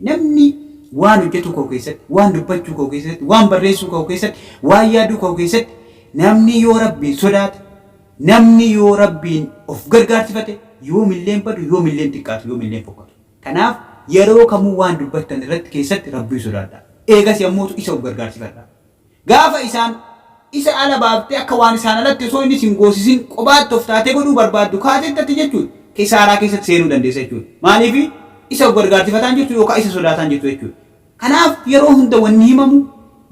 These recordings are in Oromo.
Namni waan hojjatu koo keessatti, waan dubbachuu koo keessatti, waan barreessuu koo keessatti, waan yaaduu koo keessatti namni yoo Rabbiin sodaate, namni yoo Rabbiin of gargaarsifate yoomillee hin badu, yoomillee hin xiqqaatu, yoomillee hin fokkatu. Kanaaf yeroo kamuu waan dubbattan irratti keessatti Rabbiin sodaadhaa. Eegasii ammootu isa of gargaarsifadhaa. Gaafa isaan, Isa ala baaftee akka waan isaan alatti osoo inni si hin goosisin qobaatti of taatee godhuu barbaaddu kaatetti ati jechuun kisaaraa keessatti seenuu dandeessa jechuudha. Maaliifi? Isa of gargaarsifataa hin jirtu yookaa isa sodaataa hin jirtu jechuudha. Kanaaf yeroo hunda wanni himamu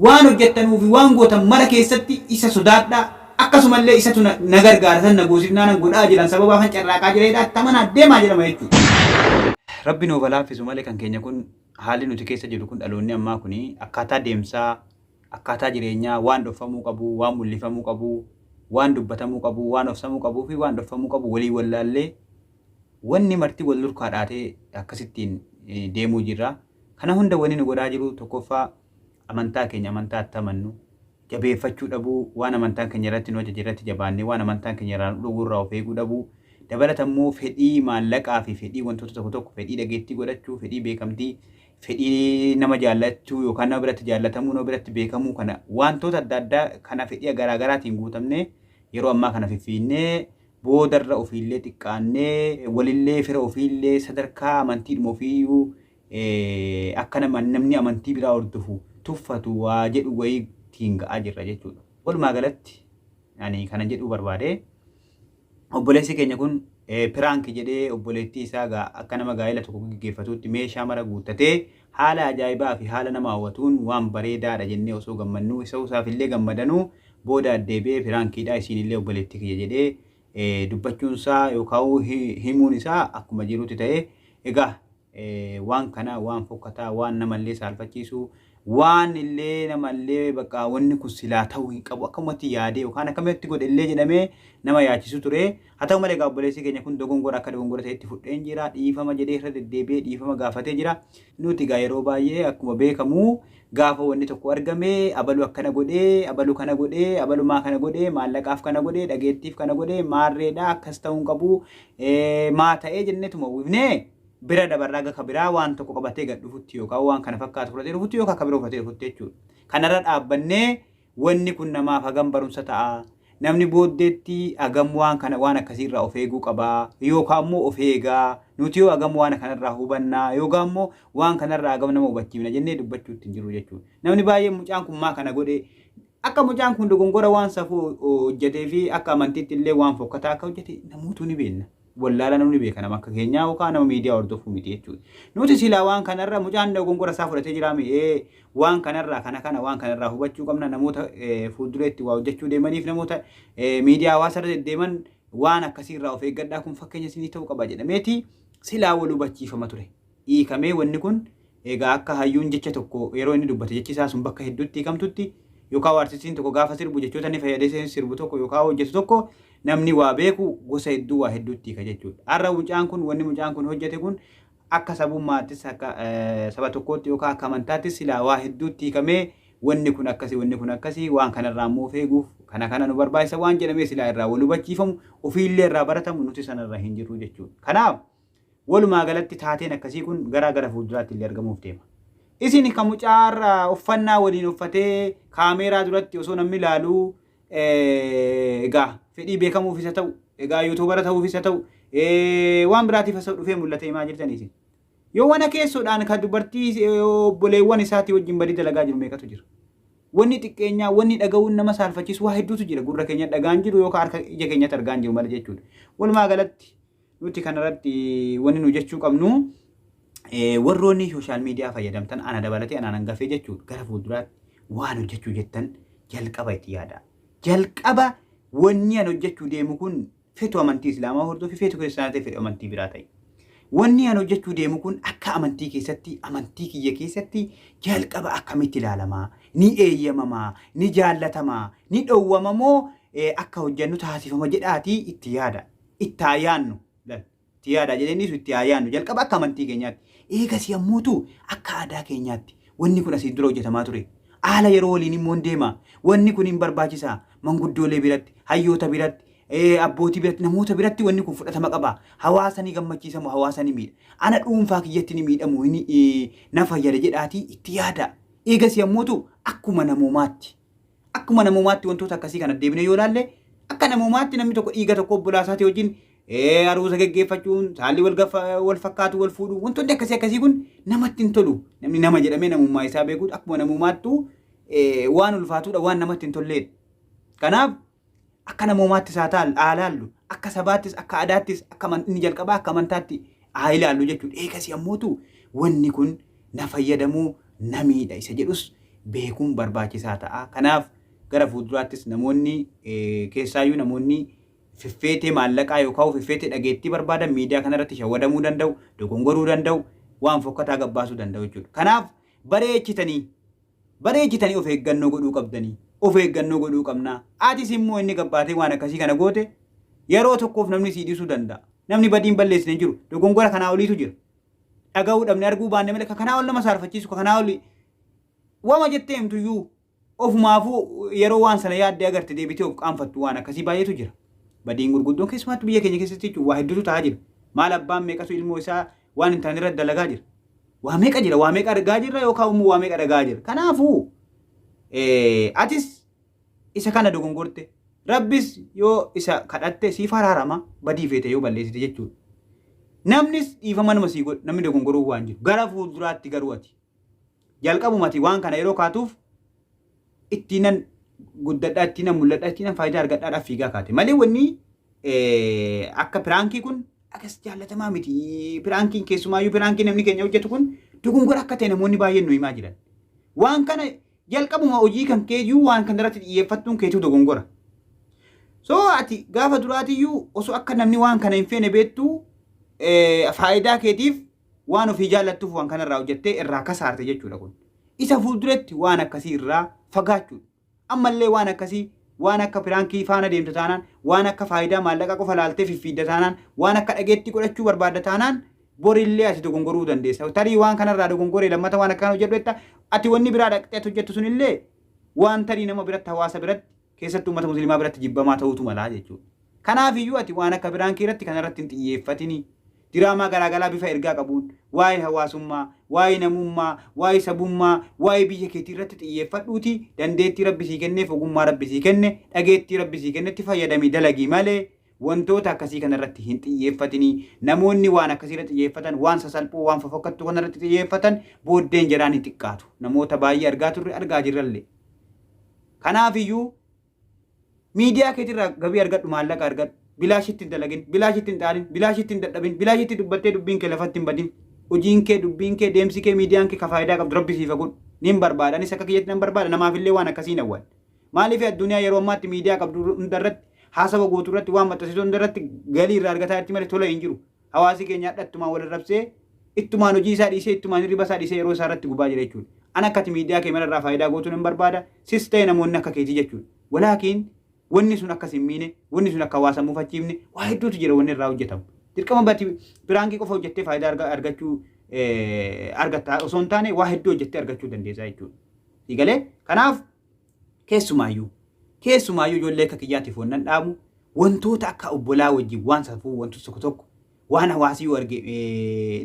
waan hojjattanuu fi waan gootan mara keessatti isa sodaadhaa, akkasuma illee isatu na, na gargaara, isatu na goosifnaanan godhaa jiran sababaafan carraaqaa jira jedhaa itti amanaa deemaa jedhama jechuudha. Rabbi nuuf ha laaffisu male kan keenya kun. Haalli nuti keessa jirru kun dhaloonni ammaa kun akkaataa deemsaa, akkaataa jireenyaa waan dhofamuu qabu, waan mul'ifamuu qabu, waan dubbatamuu qabu, waan ofsamuu qabuu fi waan dhofamuu qabu waliin wallaallee wanni marti wal durkaa dhaatee akkasittiin deemuu jirra. Kana hunda wanni nu godhaa jiru tokkoffaa amantaa keenya amantaa itti amannu, jabeeffachuu dhabuu, waan amantaan keenya irratti nu ajaje irratti jabaannee waan amantaan keenya irraa nu dhowwu irraa of eeguu dhabuu, dabalata immoo fedhii maallaqaa fi fedhii wantoota tokko tokko, fedhii dhageettii godhachuu, fedhii beekamtii, fedhii nama jaallachuu yookaan nama biratti jaallatamuu, nama biratti beekamuu kana wantoota adda addaa kana fedhii garaa garaatiin guutamnee yeroo ammaa kana fiffiinnee boodarra ofiillee xiqqaannee walillee fira ofiillee sadarkaa amantiidhuma ofiiyyuu akka namni amantii biraa hordofu tuffatu waa jedhu wayii ittiin ga'aa jirra jechuudha. Walumaa galatti ani kana jedhuu barbaade obboleessi keenya kun piraanki jedhee obboleettii isaa gaa akka nama gaa'ela tokko gaggeeffatuutti meeshaa mara guuttatee haala ajaa'ibaa fi haala nama hawwatuun waan bareedaadha jennee osoo gammannuu isa isaaf illee gammadanuu booda addeebi'ee piraankiidha isiin illee obboleettii kiyya jedhee dubbachuun isaa yookaan himuun isaa akkuma jirutti ta'e egaa waan kana waan fokkataa waan namallee saalfachiisu waan illee namallee bakka wanni kun silaa ta'uu hin qabu akkamatti yaadee yookaan akkamatti godhe illee jedhamee nama yaachisu ture haa ta'u malee gaabboleessii keenya kun dogongora akka dogongora ta'etti fudheen jira dhiifama jedhee irra deddeebi'ee dhiifama gaafatee jira nuti egaa yeroo baay'ee akkuma beekamu Gaafa wanni tokko argame, abalu akkana godhe, abalu kana godhe, abalu maa kana godhe, maallaqaaf kana godhe, dhageettiif kana godhe, maarreedha, akkas ta'uu hin qabu, maa ta'ee jenneetuma uwwifnee bira dabarra haga ka biraa waan tokko qabatee gad dhufutti yookaan waan kana fakkaatu fudhatee dhufutti yookaan ka bira uffatee dhufutti jechuudha. Kanarra dhaabbannee Wanni kun namaaf hagam barumsa ta'a? Namni booddeetti hagam waan kana waan akkasii irraa of eeguu qaba? Yookaan immoo of eega? Nuti hoo hagam waan kanarraa hubanna? Yookaan immoo waan kanarraa hagam nama hubachiifna jennee dubbachuutti hin jirru jechuudha. Namni baay'een mucaan kun maa kana godhe? Akka mucaan kun dogongora waan safuu hojjetee fi akka amantiitti illee waan fokkataa akka hojjete namootu ni beekna. wallaala namni beeka nama akka keenyaa yookaan nama miidiyaa hordofuu miti jechuudha. Nuti silaa waan kanarra mucaan dogongora isaa fudhatee jiraa mi'ee waan kanarraa kana kana waan kanarraa hubachuu qabna namoota fuuldureetti waa hojjechuu deemaniif namoota miidiyaa hawaasarra deddeeman waan akkasiirraa of eeggadhaa kun fakkeenya isinii ta'uu qaba jedhameeti silaa wal hubachiifama ture. hiikamee wanni kun egaa akka hayyuun jecha tokko yeroo inni dubbate jechi isaa sun bakka hedduutti hiikamtutti yookaa hoo artistiin tokko gaafa sirbu jechoota inni fayyadesee sirbu tokko yookaa hoo hojjetu tokko namni waa beeku gosa hedduu waa hedduutti hiika jechuudha. Har'a mucaan kun wanni mucaan kun hojjete kun akka sabummaattis akka saba tokkootti yookaa akka amantaattis silaa waa hedduutti hiikamee wanni kun akkasi wanni kun akkasi waan kanarraa immoo of eeguuf kana kana nu barbaachisa waan jedhamee silaa irraa wal hubachiifamu ofiillee irraa baratamu nuti sanarra hin jirru jechuudha. Kanaaf Walumaa galatti taateen akkasii kun garaa gara fuulduraatti illee argamuuf deema. Isin ka mucaa har'a uffannaa waliin uffatee kaameeraa duratti osoo namni ilaalu egaa fedhii beekamuufis haa ta'u egaa yuutuubara ta'uufis haa ta'u waan biraatiif osoo dhufee mul'ate himaa jirtanii isin. Yoo wana keessoodhaan ka dubartii obboleewwan isaatii wajjin badii dalagaa jiru meeqatu jira. Wanni xiqqeenyaa, wanni dhaga'uun nama saalfachiisu waa hedduutu jira. Gurra keenya dhagaan jiru yookaan harka ija keenyatti argaan jiru malee jechuudha. Walumaa galatti Nuti kanarratti wanni nu jechuu qabnu warroonni sooshaal miidiyaa fayyadamtan ana dabalatee anaan hangafee jechuun gara fuulduraatti waan hojjechuu jettan jalqaba itti yaada. Jalqaba wanni an hojjechuu deemu kun fetu amantii islaamaa hordofi fetu kiristaanaa ta'e fedhu amantii biraa ta'e. Wanni an hojjechuu deemu kun akka amantii keessatti amantii kiyya keessatti jalqaba akkamitti ilaalamaa ni eeyyamamaa ni jaallatamaa ni dhowwamamoo akka hojjennu taasifama jedhaatii itti yaada. itti haa yaannu. Lal. Itti yaadaa jedhee inni ibsu itti haa yaannu. Jalqaba akka amantii keenyaatti. Eegas yammuutu akka aadaa keenyaatti. Wanni kun asiin dura hojjetamaa ture. Haala yeroo waliin immoo hin deema. Wanni kun hin barbaachisa. Manguddoolee biratti, hayyoota biratti, ee, abbootii biratti, namoota biratti wanni kun fudhatama qaba. Hawaasa ni gammachiisa moo hawaasa ni miidha? Ana dhuunfaa kiyyatti ni miidha moo hin, ee, na fayyada jedhaatii itti yaadaa. Eegas yammuutu akkuma namoomaatti. Akkuma namoomaatti wantoota akkasii kana deebinee yoo ilaalle akka namoomaatti namni tokko dhiiga tokko obbolaa isaatii wajjin ee, aruusa geggeeffachuun saalli wal gaffa- wal fakkaatu wal fuudhu wantoonni akkasii akkasii kun namatti hin tolu namni nama jedhamee namummaa isaa beekuudha akkuma namoomaattu ee, waan ulfaatuudha waan namatti hin tolleedha. Kanaaf Akka namoomaattis haa taal- haa laallu, akka sabaattis, akka aadaattis, akka aman- inni jalqabaa akka amantaatti haa ilaallu jechuudha. Eegasii ammootu wanni kun na fayyadamoo na miidha isa jedhus beekuun barbaachisaa ta'a. Kanaaf gara fuulduraattis namoonni eh, keessaayyuu namoonni fiffeetee maallaqaa yookaan fiffeetee dhageettii barbaadan miidiyaa kanarratti shawwadamuu danda'u, dogongoruu danda'u, waan fokkataa gabbaasuu danda'u jechuudha. Kanaaf bareechitanii Bareechitanii of eeggannoo godhuu qabdanii. Of eeggannoo godhuu qabna. Atis immoo inni gabbaatee waan akkasii kana goote yeroo tokkoof namni sii dhiisuu danda'a. Namni badiin balleessine hin jiru. Dogongora kanaa oliitu jira. Dhaga'uu dhabne arguu baanne malee ka kanaa ol nama saarfachiisu ka kanaa oli wama jettee himtuyyuu ofumaafuu yeroo waan sana yaaddee agarte deebitee of qaanfattu waan akkasii baay'eetu jira. Badiin gurguddoon keessumaatti biyya keenya keessatti jechuun waa hedduutu ta'aa jira. Maal abbaan meeqatu ilmoo isaa Waan hin taane irratti dalagaa jira. Waa meeqa jira? Waa meeqa argaa jirra yookaan immoo waa meeqa dhagaa jirra? Kanaafuu atis isa kana dogongorte rabbis yoo isa kadhatte siif haraarama badii feete yoo balleessite jechuudha. Namnis dhiifama nama sii godhu namni dogongoruuf waan jiru gara fuulduraatti garuu ati Jalqabumati waan kana yeroo kaatuuf ittiinan guddadhaa, ittiinan mul'adhaa, ittiinan faayidaa argadhaadhaaf fiigaa kaate. Malee wanni akka piraankii kun akkas jaallatamaa miti. Piraankiin keessumaayyuu piraankii namni keenya hojjetu kun dogongora akka ta'e namoonni baay'een nu himaa jiran. Waan kana jalqabuma hojii kan keeyyuu waan kana irratti xiyyeeffattuun keetuu dogongora. So ati gaafa duraatiyyuu osoo akka namni waan kana hin feene beektu faayidaa keetiif waan ofii jaallattuuf waan kanarraa hojjettee irraa kasaarte jechuudha kun. Isa fuulduratti waan akkasii irraa fagaachuudha. Ammallee waan akkasii waan akka piraankii faana deemta taanaan, waan akka faayidaa maallaqaa qofa laaltee fiffiidda taanaan, waan akka dhageettii godhachuu barbaadda taanaan borillee ati dogongoruu dandeessa. Tarii waan kanarraa dogongoree lammata waan akkaan hojjedhu jetta ati wanni biraa dhaqxee ati hojjettu sunillee waan tarii nama biratti hawaasa biratti keessattuu ummata muslimaa biratti jibbamaa ta'uutu malaa jechuudha. Kanaafiyyuu ati waan akka piraankii irratti kanarratti hin xiyyeeffatini. Diraamaa garaagaraa bifa ergaa qabuun waa'ee hawaasummaa, waa'ee namummaa, waa'ee sabummaa, waa'ee biyya keetii irratti xiyyeeffadhuuti dandeettii rabbi sii kenneef ogummaa rabbi sii kenne dhageettii rabbi sii kennetti fayyadamii dalagii malee wantoota akkasii kanarratti hin xiyyeeffatini. Namoonni waan akkasiirra xiyyeeffatan waan sasalphoo waan fofokkattuu kanarratti xiyyeeffatan booddeen jedhaan hin xiqqaatu. Namoota baay'ee argaa turre argaa jirrallee. Kanaaf iyyuu miidiyaa keetirraa gabii argadhu maallaqa argadhu bilaashitti hin dalagin bilaashitti hin xaarin bilaashitti hin dadhabin bilaashitti dubbattee dubbiin kee lafatti hin badin hojiin kee dubbiin kee deemsi kee miidiyaan kee ka faayidaa qabdu rabbi siifa godhu niin barbaada anis akka kiyyatti nan barbaada namaaf illee waan akkasiin awwal maaliif addunyaa yeroo ammaatti miidiyaa qabdu hundarratti haasawa gootu irratti waan maxxansitu hundarratti galii irraa argataa jirti malee tola hin jiru Hawaasi keenya hadha ittumaan wal arrabsee, ittumaan hojii isaa dhiisee, ittumaan hirriba isaa dhiisee yeroo isaa irratti gubaa jira jechuudha. An akka ati miidiyaa kee mara irraa faayidaa gootu nan barbaada, sis ta'e namoonni akka keetii jechuudha. Walaakiin wanni sun akka sin miine, wanni sun akka hawaasa hin mufachiifne waa hedduutu jira wanni irraa hojjetamu. Dirqama bati piraankii qofa hojjettee faayidaa arga- argachuu eh, argatta osoo hin taane waa hedduu hojjettee argachuu dandeessaa jechuudha. Sii galee? Kanaaf Keessumaayyuu keessumaayyuu ijoollee akka kiyyaatiif wannan dhaamu wantoota akka obbolaa wajjin waan safuu wantoota tokko tokko waan hawaasii yoo arge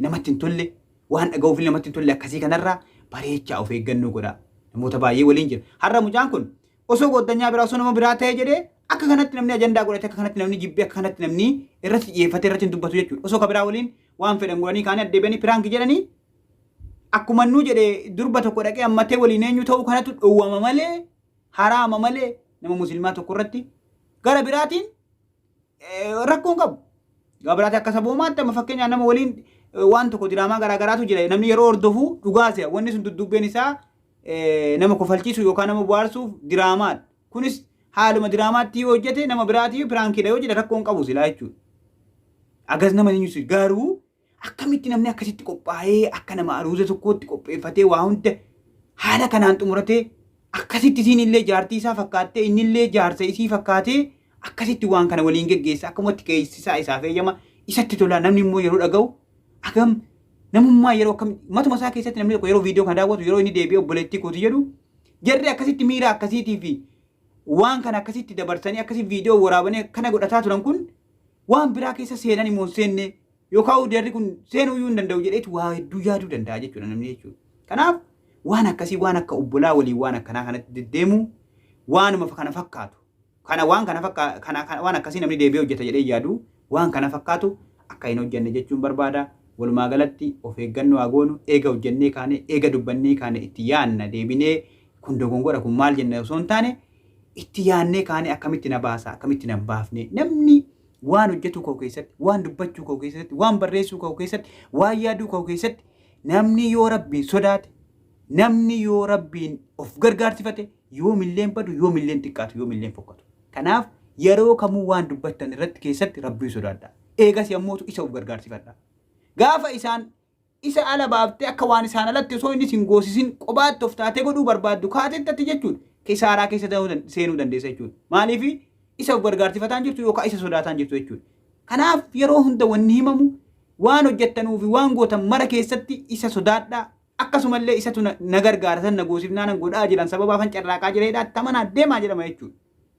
namatti hin tolle waan dhaga'uuf namatti hin tolle akkasii kanarraa bareechaa of eeggannoo godha namoota baay'ee waliin jira har'a mucaan kun osoo goddanyaa biraa osoo nama biraa ta'ee jedhee akka kanatti namni ajandaa godhate akka kanatti namni jibbee akka kanatti namni irratti xiyyeeffate irratti hin dubbatu jechuudha osoo ka biraa waliin waan fedhan godhanii kaanii addeebi'anii piraanki jedhanii akkuma innuu jedhe durba tokko dhaqee ammatee waliin eenyu ta'uu kanatu dhowwama malee haraama malee nama muslimaa tokko irratti gara biraatiin eh, rakkoo hin qabu. Gara biraatiin akka saboomaatti amma fakkeenyaaf nama waliin eh, waan tokko diraamaa garaa garaatu jira namni yeroo hordofu dhugaa se'a wanni sun duddubbeen isaa eh, nama kofalchiisu yookaan nama bohaarsuuf diraamaadha. Kunis haaluma diraamaatti yoo hojjete nama biraatii piraankiidha yoo jedhe rakkoo hin qabu silaa jechuudha. Agas nama ni nyusu garuu Akkamitti namni akkasitti qophaa'ee akka nama aruuza tokkootti qopheeffatee waa hunda haala kanaan xumuratee akkasitti isiin illee jaartii isaa fakkaattee inni illee jaarsa isii fakkaatee akkasitti waan kana waliin geggeessa akkamatti keessaa isaaf eeyyama isatti tola namni immoo yeroo dhaga'u agam namummaa yeroo akkam matuma isaa keessatti namni tokko yeroo viidiyoo kana daawwatu yeroo inni deebi'ee obboleettii kooti jedhu jarri akkasitti miira akkasiitii fi waan kana akkasitti dabarsanii akkasitti viidiyoo waraabanii akkana godhataa turan kun waan biraa keessa seenan immoo hin seenne Yoo ka'u jarri kun seenuu iyyuu hin danda'u jedheetu waa hedduu yaaduu danda'a jechuudha namni jechuudha. Kanaaf waan akkasii waan akka obbolaa waliin waan akkanaa kanatti deddeemuu waanuma kana fakkaatu. Kana waan kana fakkaatu kana kana- waan akkasii namni deebi'ee hojjeta jedhee yaadu waan kana fakkaatu akka hin hojjenne jechuun barbaada. Walumaa galatti of eeggannoo haa goonu eega hojjennee kaane eega dubbannee kaane itti yaanna deebinee kun dogongora kun maal jenna osoo hin taane itti yaannee kaane akkamitti na baasa akkamitti na hin baafne namni Waan hojjetuu koo keessatti, waan dubbachuu koo keessatti, waan barreessuu koo keessatti, waan yaaduu koo keessatti namni yoo rabbiin sodaate, namni yoo rabbiin of gargaarsifate yoomilleen badu, yoomilleen xiqqaatu, yoomilleen fokkatu. Kanaaf yeroo kamuu waan dubbattan irratti keessatti rabbiin sodaadha. Eegas yammuutu isa of gargaarsifadha. Gaafa isaan isa ala baaftee akka waan isaan alatti osoo inni sin goosisin qobaatti of taatee godhuu barbaaddu kaatetti atti jechuun kisaaraa keessa ta'uu dan- seenuu dandeessa jechuudha. Maaliif isa of gargaarsifataan jirtu yookaan isa sodaataan jirtu jechuudha. Kanaaf yeroo hunda wanni himamu waan hojjettanuu fi waan gootan mara keessatti isa sodaadhaa akkasumallee isatu na na gargaara san na goosifnaa nan godhaa jiran sababaa fan carraaqaa jira jedhaa tamanaa deemaa jedhama jechuudha.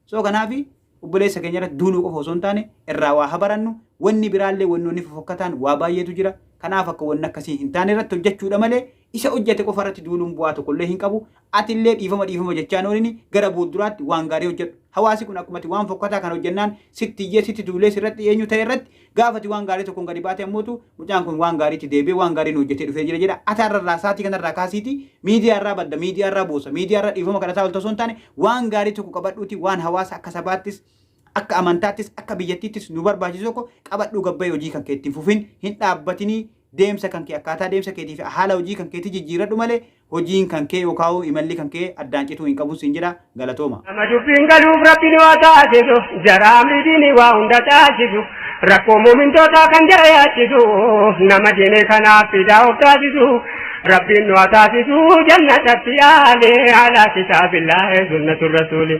So kanaafi obboleessa keenya irratti duuluu qofa osoo hin taane irraa waa ha barannu wanni biraallee wannoonni fofokkataan waa baay'eetu jira kanaaf akka wanni akkasii hin taane irratti hojjechuudha malee isa hojjete qofa irratti duuluun bu'aa tokkollee hin qabu atillee dhiifama dhiifama jechaa noolini gara boodduraatti waan gaarii hojjedhu hawaasi kun akkumati waan fokkataa kan hojjennaan sitti iyyee sitti duulee sirratti eenyu ta'e irratti Gaafa ati waan gaarii tokkoon gadi baate ammootu mucaan kun waan gaariitti deebi'ee waan gaarii nu hojjetee dhufee jira jedha. Ati har'arraa saatii kanarraa kaasiiti miidiyaarraa badda, miidiyaarraa boosa, miidiyaarraa dhiifama kadhataa olta osoo hin taane waan gaarii tokko qabadhuuti waan hawaasa akka sabaattis akka amantaattis akka biyyattiittis nu barbaachisu tokko qabadhuu gabbayee hojii kan keetti hin fufin hin dhaabbatinii deemsa kan kee akkaataa deemsa keetii fi haala hojii kan keetii jijjiiradhu malee Hojiin kankee yookaahuu imalli kankee addaan cituu hin qabun siin jedha. Galatooma. Nama dubbiin galuuf rabbiin waa taasisu jara amri diinii waa hunda taasisu rakkoo muumintootaa kan jara yaachisu nama diinee kanaaf fidaa of taasisu rabbiin nu haa taasisu jannatatti aale ala kitaabillaahi sunnatu rasuuli.